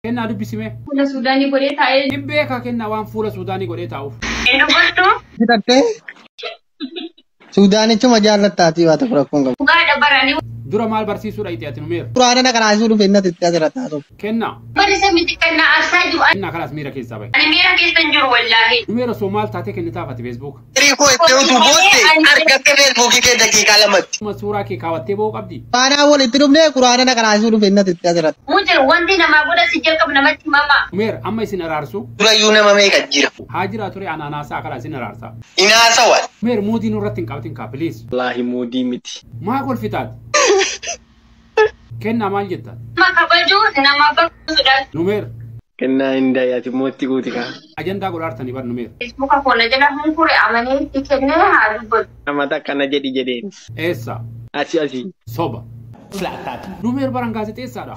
Kennaa dubbisi mee. Fuula Suudaanii godhee taa'ee. Hin beekaa kennaa waan fuula Suudaanii godhee taa'uuf. Hin dubbattu. Hidhattee Suudaanichuma jaallattaatii waa tokko rakkoon qabu. Dhugaadha baranii. Dura maal barsiisuu dhaqxe ati numeera? Quraana na qaraasisuu dhufe innati itti asirratti haasa'u. Kennaa. Barisa miti kan na arsaa jiru. Kennaa kalaas miira keessaa bahe. Ani miira keessa hin jiru wallaahi. Numeera soo maal taatee kennitaaf ati Facebook? Firii koo itti utuu bootte argatte feesbuukii kee daqiiqaa lamatti. Akkuma suuraa kee kaawwattee ba'uu qabdi. Faanaa walitti dhufnee quraana na qaraasisuu dhufe innati itti asirratti. Mujir wanti namaa godha si jalqab namatti mama. Umeer amma isin araarsu. Durayyuu nama meeqa jira. Haa jiraa ture anaan haasaa akala isin araarsa. Hin haasawan. Umeer muudii nurratti hin qabtin kaa please. Walahi muudii miti. Maa kolfitaati. Kennaa maal jettaan? Nama kabajuu, nama bakka sodaachuu. Numeer. Kennaa hin dayi ati immoo itti guuti kaa. Ajandaa godhaartani bar numeer. Feesbuuka koo na jala hunkure amanee itti kenne haa dubbatu. Amata akkana jedhi jedheen. Eessa? Asi asi. Soba. Silaa akkaati. Numeer baran gaazexeessaadha.